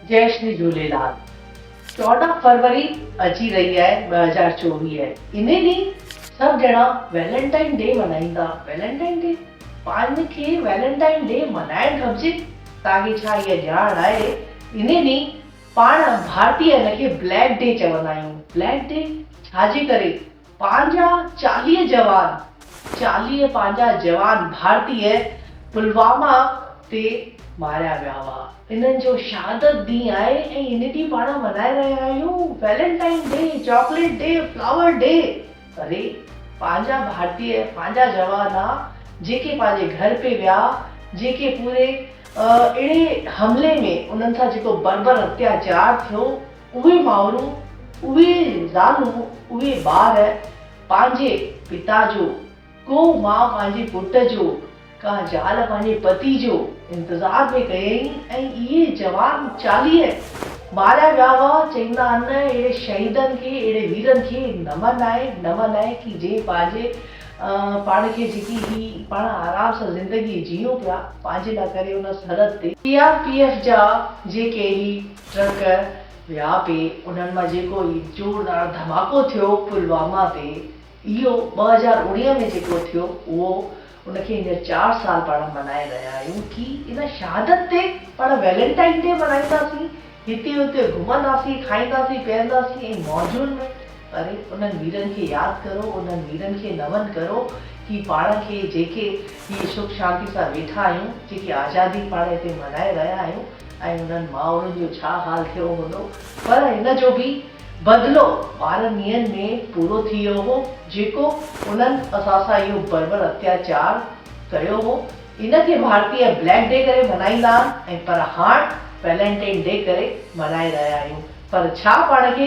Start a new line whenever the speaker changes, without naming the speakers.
جئي شري جهوليلال چوڏهن فروري اچي رهي آهي ٻه هزار چوويهه انهي ڏينهن سڀ ڄڻا ويلنٽائن ڊي ملهائيندا ويلنٽائن ڊي پاڻ کي ويلنٽائن ڊي ملهائڻ گهبجي تاڪي ڇا اها ڄاڻ آهي انهي ڏينهن پاڻ ڀارتي ان کي بليڪ ڊي چوندا آهيون بليڪ ڊي ڇا جي ڪري پنهنجا چاليهه جوان چاليهه پنهنجا جوان ڀارتيه پلواما تي ماريا ويا هئا. انهن جو شهادت ڏينهن آهي ۽ ان ڏينهن پاڻ ملهائي رهيا آهيون valentine day, chocolate day, flower day پري پنهنجا ڀارتيه پنهنجا جوان آ جيڪي پنهنجي گهر پي ويا جيڪي پوري اهڙي حملي ۾ انهن سان جيڪو بربر اتياچار ٿيو اهي مائرون، اهي زالون، اهي ٻار پنهنجي پتا جو، ڪو ماء پنهنجي پٽ جو، ڪا زال پنهنجي پتي جو انتظار پئي ڪيئي ۽ اهي جوان چاليهه ماريا ويا هئا، چئيندا هن اهڙي شهيدن کي، اهڙي ويرن کي نمن آهي، نمن آهي ڪي جنهن پنهنجي پاڻ کي جيڪي هي پاڻ آرام سان زندگي جيئون پيا، پنهنجي لاء ڪري ان سرحد تي. سي آر پي ايف جا جيڪي هي ٽرڪ ويا پي انهن مان جيڪو هي زوردار ڌماڪو ٿيو پلواما تي اهو ٻه هزار اڻيهه ۾ جيڪو ٿيو اهو ان کي هينئر چار سال پاڻ ملهائي رهيا آهيون ڪي ان شهادت تي پاڻ ويلنٽائن ڊي ملهائينداسين هتي اتي گهمنداسين کائينداسين پيئنداسين ۽ موجن ۾ اري انهن ويرن کي ياد ڪرو، انهن ويرن کي نمن ڪرو، هي پاڻ کي جيڪي هيء سک شانتي سان ويٺا آهيون، جيڪي آزادي پاڻ هتي ملهائي رهيا آهيون ۽ انهن مائرن جو ڇا حال ٿيو هوندو، پر ان جو به بدلو ٻارهن ڏينهن ۾ پورو ٿي ويو هو، جيڪو انهن اسان سان اهو بربر اتياچار ڪيو هو، ان کي ڀارتي بليڪ ڊي ڪري ملهائيندا ها ۽ پر هاڻ ويلنٽين ڊي ڪري ملهائي رهيا آهيون، پر ڇا پاڻ کي